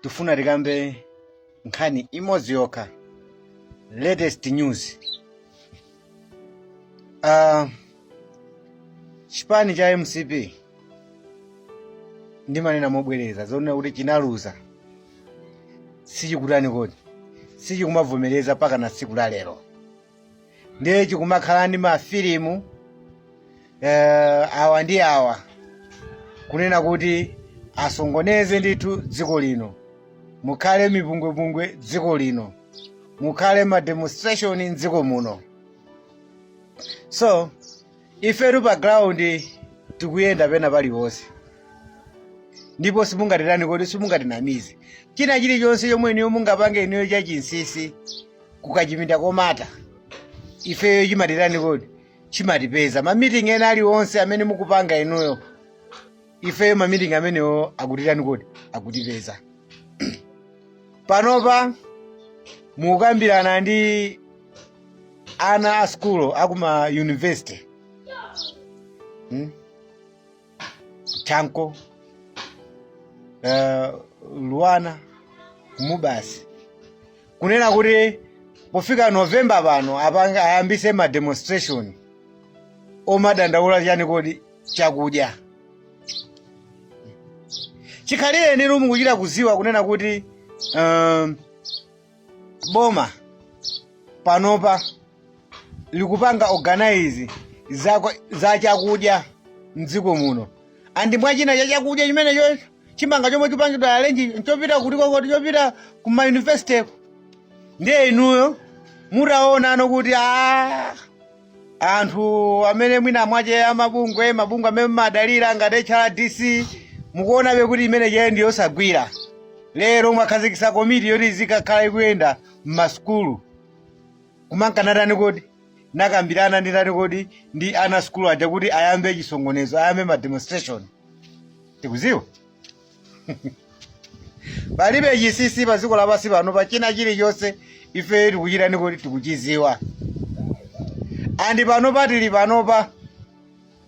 tifuna tikambe nkhani imodzi yokha latest news uh, chipani cha mcp ndimanena mobwereza zonena kuti chinaluza sichikutani kodi sichikumavomereza mpaka na tsiku la lero ndiye chikumakhala ndi mafilimu eh, awa ndi awa kunena kuti asongoneze ndithu dziko lino mukhale mipungwepungwe dziko lino mukhale mademonstration mdziko muno so ifetu pa ground tikuyenda pena paliwonse ndipo simungatitani kodi simungatinamize china chilichonse chomwe inuyo mungapange inuyo chachinsisi kuchipinda chomata ifeyo chimatitani kodi chimatipeza mamiting ena aliwonse amene mukupanga inuyo ifeyo mamitingi amenewo akutitani kodi akutipeza panopa mukukambirana ndi ana a sukulu akuma university hmm? chanco uh, luanar mubas kunena kuti pofika novemba pano ayambise ma demonstration omadandaula chani kodi chakudya chikhalirecho inu mukuchita kuziwa kunena kuti um, boma panopa likupanga organize za, za chakudya mdziko muno and mwa china cha chakudya chimenecho chimanga chomwe chipangidwa arrange chopita kuti kodi chopita ku mayunivesiteko ndiye inuyo mutaonano kuti a anthu amene mwina mwache amabungwe mabungwe amene mmadalira ngati hrdc mukuonabe kuti imene ija ndi yosagwira lero mwakhazikisa komiti yoti izikakhala ikuyenda mmasukulu kumakatani kodi kukambirana ndi ndani kodi ndi ana sukulu aja kuti ayambe chisongonezo ayambe ma demonstration tikuziwa palibe chisisi pa dziko lapansi pano pa china chilichonse ife tikuchitani kodi tikuchiziwa and pano patili panopa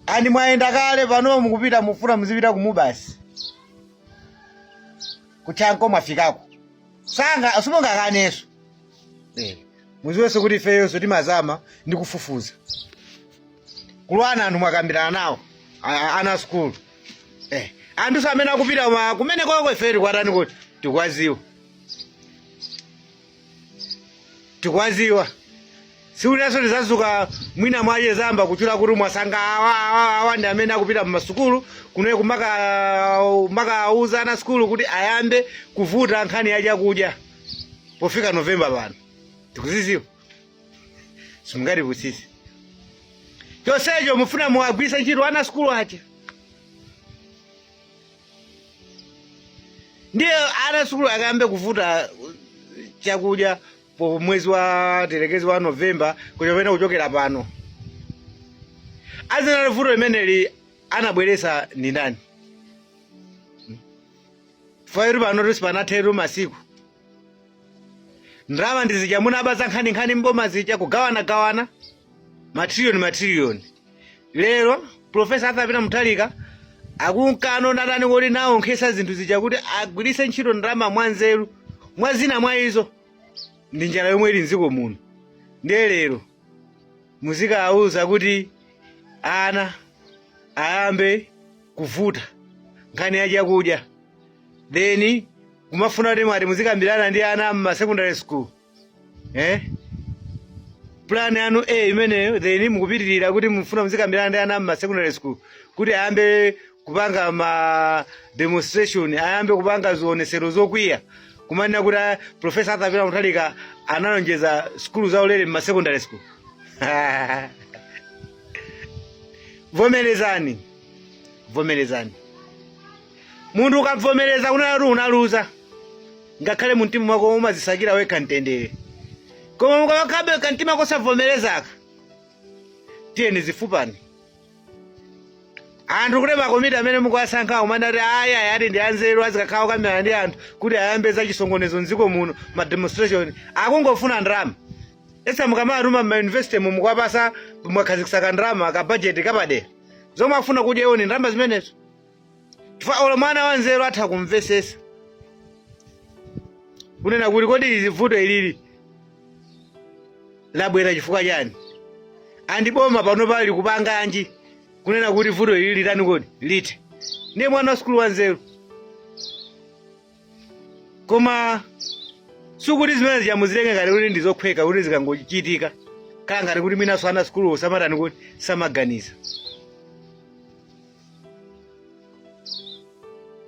and mwayenda kale pano mukupita mufuna muzipita ku mubas ku chanco mwafikako sanga simungakaneso eh. muziwenso kuti ifeyonso timazama ndi kufufuza ku luanar anthu mwakambirana nawo a- a- ana a sukulu Eh, anthuso amene akupita ma kumeneko ife tikwatani kuti tikuwaziwa tikuwaziwa siuli nanso tizazuka mwina mwayesa mwaba kutchula kuti mwasanga awa awa awa ndi amene akupita mmasukulu kuno kumakawauza ana asukulu kuti ayambe kuvuta nkhani ya chakudya pofika novemba pano tikuziziwa simungatipusise chonsecho mufuna muwagwiritse ntchito ana asukulu aja ndiye ana asukulu akayambe kuvuta uh, chakudya pa mwezi wa thelekezi wa novemba kuchopena kuchokera pano azinena vuto limeneli anabweresa ndi ndani fairu pano tusi panatheru masiku ndalama ndi zija munaba za nkhaninkhani mboma zija kugawanagawana matriliyoni matriliyoni lero profesa arthur peter muthalika akunkano natani kuti nawonkhesa zinthu zija kuti agwiritse ntchito ndalama mwanzeru mwa zina mwa izo ndi njala yomwe ili mdziko muno ndiye lero muzikawauza kuti ana ayambe kuvuta nkhani ya chakudya then kumafuna kuti mwati muzikambirana ndi ana m'ma secondary school eh? plan yanu imeneyo then mukupitirira kuti mufuna muzikambirana ndi ana m'ma secondary school kuti ayambe kupanga ma demonstration ayambe kupanga zionesero zokwiya kumanena kuti ah, profesa arthur peter muthalika analonjeza sukulu zaulere m'ma secondary school vomerezani vomerezani munthu ukavomereza kunena kuti unaluza ngakhale mu mtima mwako umazisakira wekha mtendere koma mukakhabe kamtima kosavomerezaka tiyeni zifunani anthu kuti makomiti amene mukuwasankha kumanena ati ayi ayi ati ndi anzeru azikakhala okambirana ndi anthu kuti ayambe za chisokonezo mdziko muno ma demonstration akungofuna ndalama esa mukawatuma mmayunivesity mu mukuwapasa mwakhazikisaka ndalama ka budget kapadera zomwe afuna kudya iwo ni ndalama zimenezo chifukwa olo mwana wanzeru atha kumvesesa kunena kuti kodi ili vuto ilili labwera chifukwa chani nanga boma pano pali kupanganji kunena kuti vuto ilili litani kodi litha ndiye mwana wa sukulu wanzeru koma sikuti zimene zija muzitenge ngati kuti ndizokhweka kuti zikangochitika kaya ngati kuti mwinanso ana asukulu samatani kuti samaganiza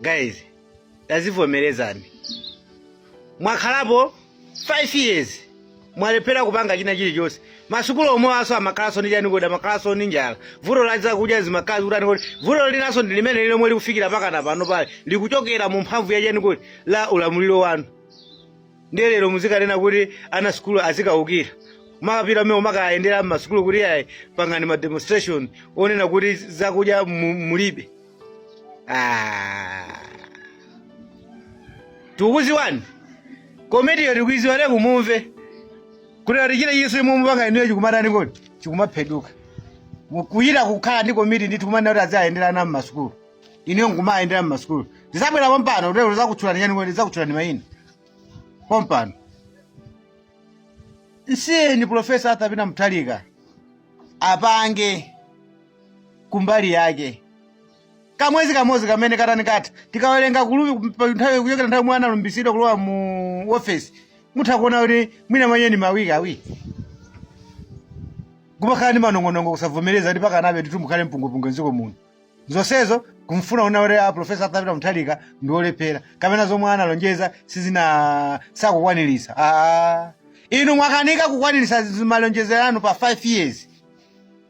guys tazivomerezani mwakhalapo 5 years mwalephera kupanga china chilichonse masukulu omwewaso amakhalanso ndi chani kodi amakhalanso ndi njala vuto la zakudya zimakhala zikutani kodi vuto linanso ndi limene lomwe likufikira pakana pano pali likuchokera mu mphamvu ya chani kodi la ulamuliro wanu ndiye lero muzikanena kuti ana sukulu azikaukira makapita mmene umakayendera mmasukulu kuti ayi pangani ma demonstration ponena kuti zakudya mu- mulibe Ah. tikuziwani komitiyo tikuiziwa te kumumve kuti ati chile yesu imwe mupanga inuyo chikumatani kodi chikumapheduka kuyita kukhala ndi komiti ndi tikumana kuti aziayenderana mmasukulu inuyo kumayendera mmasukulu ndisabwera pompano kuti lero ndizakutchulani chani kodi ndizakutchulani mayina pompano nsiyeni profesa arthur peter muthalika apange kumbali yake kamwezi kamodzi kamene katani kodi katha tikawerenga kulupi pa nthawi kuchokera nthawi yomwe analumbisidwa kulowa mu ofesi mutha kuona kuti mwina mwenyewe ni mawiki awiri kumakhala ndi manong'onong'o kusavomereza kuti pakana titu mukhale mpungupungu mdziko muno zonsezo kufuna kunena kuti a profesa arthur peter muthalika ndi olephera kapena zomwe analonjeza sizina sakukwaniritsa aa inu mwakanika kukwaniritsa malonjezero anu pa 5 years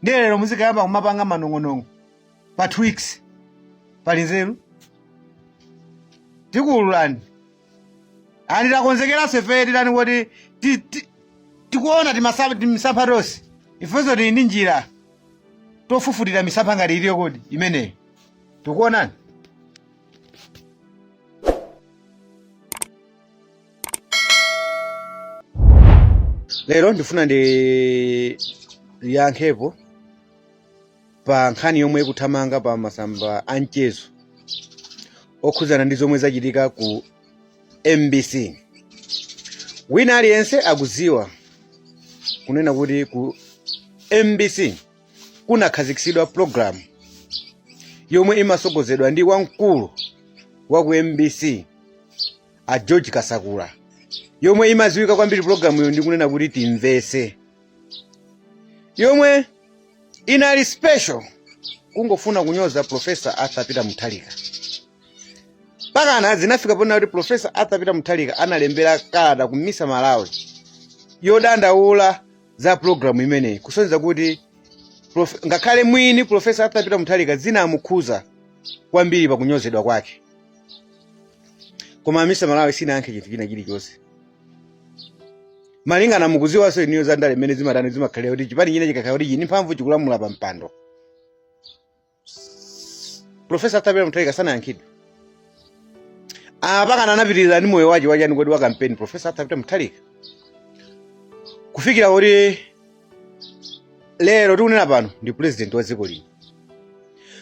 ndiye lero muzikayamba kumapanga manong'onong'o pa two weeks pali nzeru tikuululani ani takonzekeranso ife titani kuti ti- ti- tikuona timasa- timisampha tonse ifenso tili ndi njira tofufutira misampha ngati iliyo kodi imeneyo tikuonani lero ndifuna ndiyankhepo pa nkhani yomwe ikuthamanga pa masamba a mchezo okhudzana ndi zomwe zachitika ku mbc wina aliyense akudziwa kunena kuti ku mbc kunakhazikitsidwa pulogalamu yomwe imasogozedwa ndi wamkulu wa ku mbc a george kasakula yomwe imaziwika kwambiri pulogalamuyo ndi kunena kuti timvese yomwe inali special kungofuna kunyoza profesa arthur peter muthalika pakana zinafika ponena kuti profesa arthur peter muthalika analembera kalata ku misa malawi yodandaula za pulogalamu imeneyi kusonyeza kuti prof- ngakhale mwini profesa arthur peter mutharika zinamukhuza kwambiri pakunyozedwa kwake koma misa malawi isinayankhe chinthu china chilichonse malingana mukuziwanso inuyo za ndale mmene zimatani zimakhalira kuti chipani china chikakhala kuti chili ni mphamvu chikulamula pa mpando profesa arthur peter mutharika sanayankhe iwo apa akana anapitirira ndi moyo wache wachani kodi wa kampeni profesa arthur peter mutharika kufikira kuti lero tikunena pano ndi president wa dziko lino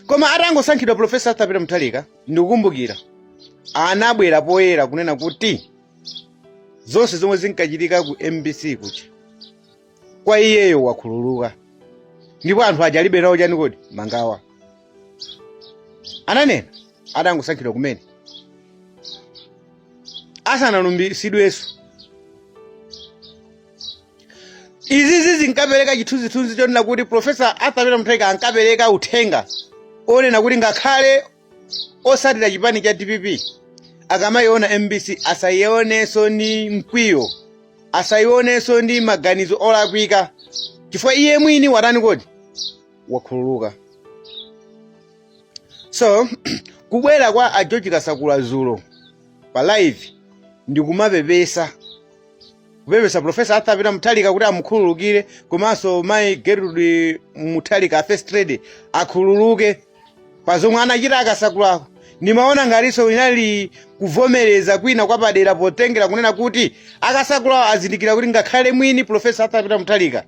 koma atangosankhidwa profesa arthur peter mutharika ndikukumbukira anabwera poyera kunena kuti zonse zomwe zinkachitika ku mbc kuja kwa iyeyo wakhululuka ndipo anthu aja alibe nawo chani kodi mangawa ananena adangosankhidwa kumene asanalumbiritsidwenso izizi zinkapereka chithunzithunzi chonena kuti profesa arthur peter mutharika ankapereka uthenga onena kuti ngakhale otsatira chipani cha dpp akamayiona mbc asayionenso ndi mkwiyo asayionenso ndi maganizo olakwika chifukwa iye mwini watani kodi wakhululuka so kubwera kwa a george kasakula dzulo pa live ndikumapepesa kupepesa profesa arthur peter mutharika kuti amukhululukire komanso mayi gertrude mutharika a first lady akhululuke pa zomwe anachita akasakulako ndimaona ngatinso kunali kuvomereza kwina kwapadera potengera kunena kuti akasakulawo azindikira kuti ngakhale mwini profesa arthur peter mutharika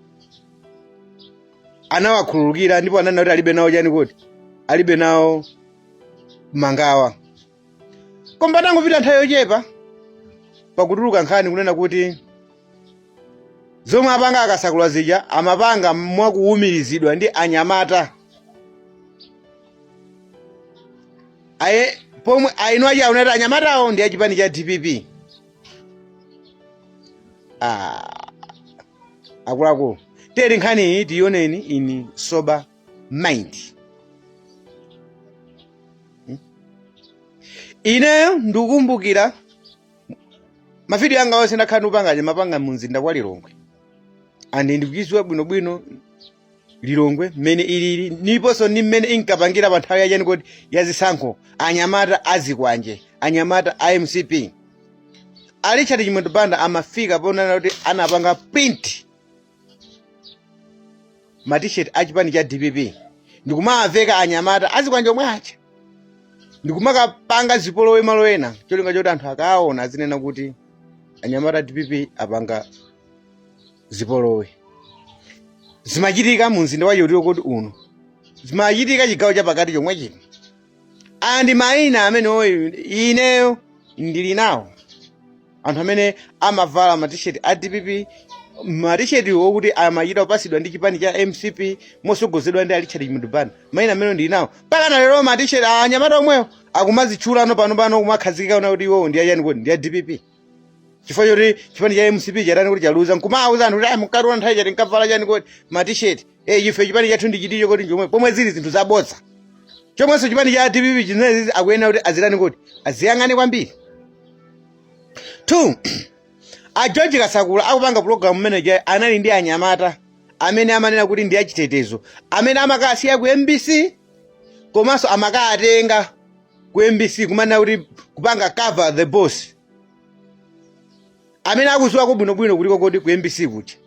anawakhululukira ndipo ananena kuti alibe nawo chani kodi alibe nawo mangawa koma patangopita nthawi yochepa pakutuluka nkhani kunena kuti zomwe apanga akasakula zija amapanga mwakuwumirizidwa ndi anyamata pomwe ena akunena kuti anyamatawo ndi achipani cha dpp ah, akuluakulu tiyeni nkhani iyi tiyioneni in sober mind Hmm? ineyo ndikukumbukira mavidiyo anga onse ndakhala ndikupanga ndimapanga mu mzinda wa lilongwe and ndikuyidziwa bwinobwino lilongwe mmene ilili ndiponso ndi mmene inkapangira pa nthawi yachani kodi ya zisankho anyamata azikwanje anyamata a mcp a richard chimwendo banda amafika ponena kuti anapanga print matishet a chipani cha dpp ndikumawaveka anyamata azikwanje omwe aja ndikumakapanga zipolowe malo ena cholinga choti anthu akaona azinena kuti anyamata a dpp apanga zipolowe zimachitika mu mzinda wa chiyani kodi uno zimachitika chigawo chapakati chomwe chino aya ndi mayina amene oti ineyo ndili nawo anthu amene amavala matisheti a dpp matisheti okuti amachita kupasidwa ndi chipani cha mcp mosogozedwa ndi a Richard Chimwendo Banda mayina amene ndili nawo mpaka na lero matisheti a anyamata omwewo akumazitchulano panopano kumakhazikika kunena kuti iwowo ndi achani kodi ndi a dpp chifukwa choti chipani cha mcp chatani kodi chaluza nkumawuza anthu kuti ayi munkationa nthawi chati nkavala chani kodi matisheti e ife chipani chathu ndi chiticho koti njomwe pomwe zili zinthu zabodza chomwenso chipani cha dpp chinezi akuyenera kuti azitani kodi aziyang'ane kwambiri two a george kasakula akupanga pulogalamu manager anali ndi anyamata amene amanena kuti ndi achitetezo amene amakasiya ku mbc komanso amakatenga ku mbc kumanena kuti kupanga cover the boss amene akuziwako bwinobwino kuliko kodi ku mbc kuti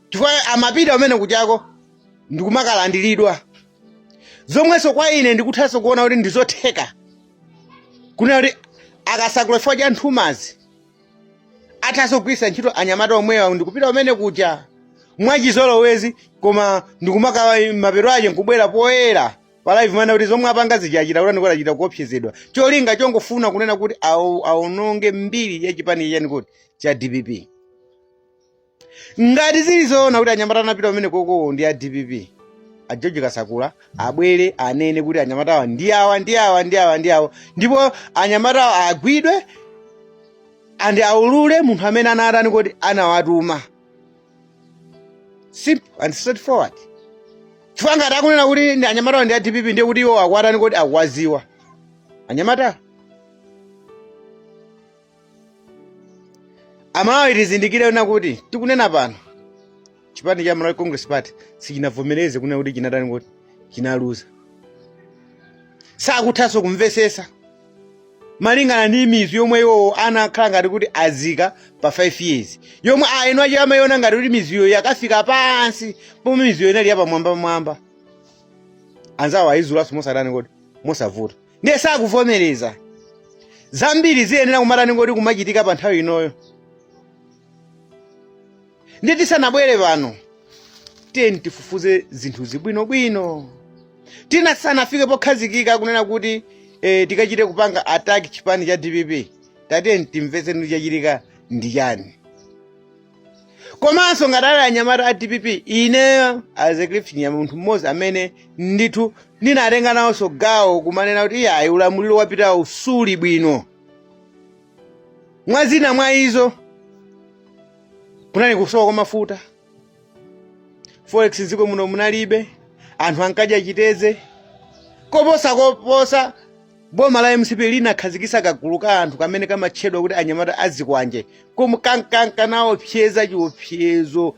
chifukwa amapita kumene kuchako ndikumakalandiridwa zomwenso kwa ine ndikuthanso kuona kuti ndizotheka kunena kuti a kasakula chifukwa cha nthumazi athanso kugwiritsa ntchito anyamata omwewa ndikupita kumene kucha mwachizolowezi koma ndikumakawa mapeto ache nkubwera poyera pa live kumanena kuti zomwe apanga zija achita kutani kodi achita kuopsezedwa cholinga chongofuna kunena kuti awo- aononge mbiri ya chipani cha chani kodi cha dpp ngati zili zoona kuti anyamata anapita kumene koko ndi a dpp a george kasakula abwere anene kuti anyamatawa ndi awa ndi awa ndi awa ndi awa ndipo anyamatawa agwidwe and aulule munthu amene anawatani kodi anawatuma simple and straightforward chifukwa ngati akunena kuti anyamatawo ndi a dpp ndiye kuti iwo akuwatani kodi akuwaziwa anyamatawo amalawi tizindikire kunena kuti tikunena pano chipani cha malawi congress party sichinavomereze kunena kuti chinatani kodi chinaluza sakuthanso kumvesesa malingana ndi mizu yomwe iwowo anakhala ngati kuti azika pa 5 years yomwe a eni wache amayiona ngati kuti mizuyo yakafika pansi pomwe mizuyo inali yapamwambamwamba anzawo ayizulanso mosatani kodi mosavuta ndiye sakuvomereza zambiri ziyenera kumatani kodi kumachitika pa nthawi inoyo ndiye tisanabwere pano tiyeni tifufuze zinthuzi bwinobwino tisanafike pokhazikika kunena kuti eh, tikachite kupanga ataki chipani cha dpp tatiyeni timvetse kuti chachitika ndi chani komanso ngati ali anyamata a dpp ineyo azeklifinya munthu mmodzi amene ndithu ndinatenga nawonso gawo kumanena kuti iyayi ulamuliro wapitawo suli bwino mwa zina mwa izo kunali kusowa kwa mafuta forex dziko muno munalibe anthu ankadya chiteze koposa koposa boma la mcp linakhazikisa kagulu ka anthu kamene kamatchedwa kuti anyamata azikwanje komwe kankanka naopseza chiopsezo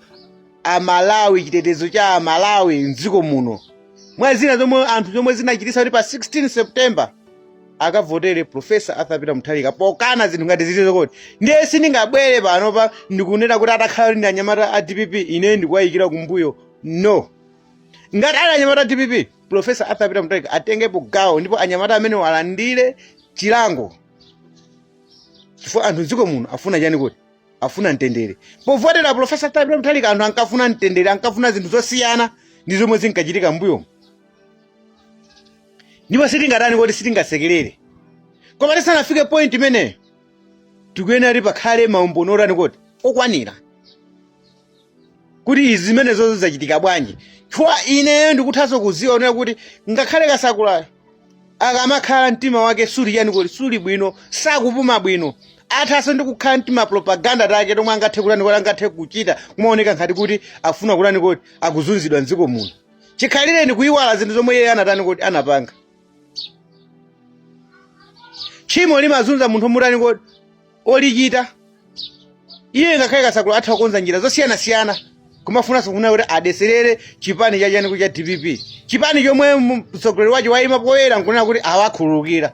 amalawi chitetezo cha amalawi mdziko muno mwa zina zomwe anthu zomwe zinachitisa kuti pa 16 september akavotere profesa arthur peter mutharika pokana zinthu ngati zilizo kodi ndiye sindingabwere panopa ndikunena kuti atakhala kuti ndi anyamata a dpp ine ndikuwayikira kumbuyo no ngati ali anyamata a dpp profesa arthur peter mutharika atengepo gawo ndipo anyamata amenewo alandire chilango chifukwa anthu mdziko muno afuna chani kuti afuna mtendere povotera profesa arthur peter mutharika anthu ankafuna mtendere ankafuna zinthu zosiyana ndi zomwe zinkachitika mbuyomu ndipo sitingatani kuti sitingasekerere koma tisanafike point imeneyo tikuyenera kuti pakhale maumboni otani kuti okwanira kuti izi zimenezo zidzachitika bwanji chifukwa ineyo ndikuthanso kuziwa kunena kuti ngakhale kasakulayo akamakhala mtima wake suli chani kuti suli bwino sakupuma bwino athanso ndi kukhala ndi tima propaganda take tomwe angathe kutani kuti angathe kuchita kumaoneka ngati kuti afuna kutani kuti akuzunzidwa mdziko muno chikhalireni kuyiwala zinthu zomwe iye anatani kuti anapanga tchimo limazunza munthu mutani kuti olichita iye ngakhale kasakula atha kukonza njira zosiyanasiyana kumafunanso kunena kuti adeserere chipani chachani koti cha dpp chipani chomwe mu- mtsogoleri wacho wayima poyera nkunena kuti awakhululukira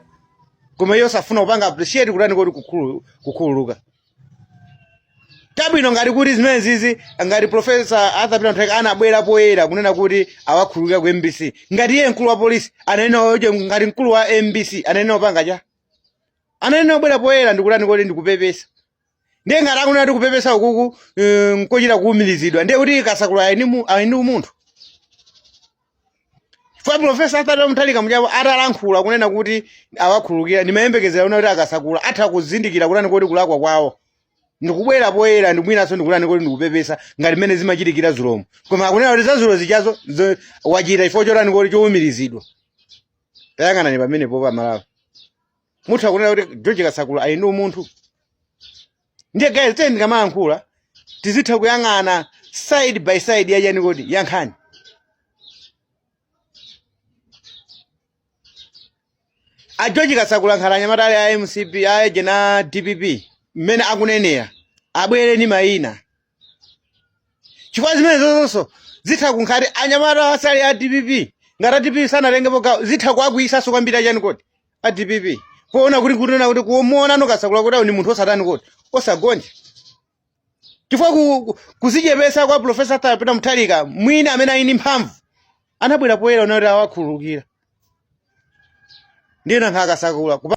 koma iye safuna kupanga appreciate kutani koti kukhulu- kukhululuka chabwino ngati kuti zimene zizi ngati profesa arthur peter mutharika anabwera poyera kunena kuti awakhululukira ku mbc ngati iye mkulu wa polisi ananena oje ngati mkulu wa mbc anayenera kupanga cha anayenera kubwera poyera ndikutani koti ndikupepesa ndiye ngati akunena kuti kupepesa ukuku eh, nkochita kuumirizidwa ndiye kuti kasakula ali ndi mu- ali ndi umunthu chifukwa profesa arthur peter mutharika muchapo atalankhula kunena kuti awakhululukira ndimayembekezera kunena kuti akasakula atha kuzindikira kutani koti kulakwa kwawo ndikubwera poyera ndikubwinanso ndikutani koti ndikupepesa ngati mmene zimachitikira zulomo koma akunena kuti zazulo zijazo zo- wachita chifukwa chotani koti choumirizidwa tayang'anani pamenepo amalawi mutha kunena kuti george kasakula ali ndi umunthu ndiye guys tiyeni tikamayankhula tizitha kuyang'ana side by side yachani koti yankhani a george kasakula ngati anyamata ali a mcp aeje ndi a dpp mmene akunenera abwere ndi mayina chifukwa zimenezo zonse zitha kukhala kuti anyamata asali a dpp ngati a dpp sanatengepo gawo zitha kuwakwiyitsanso kwambiri achani kodi a dpp poona kuti kunena kuti kumuonano kasakula kuti awo ni munthu osatani kodi osagonja chifukwa ku- ku- kuzichepesa kwa profesa Pita Mutharika mwini amene ali ndi mphamvu anabwera poyera anati awakhululukira ndiye nankha akasakula kupa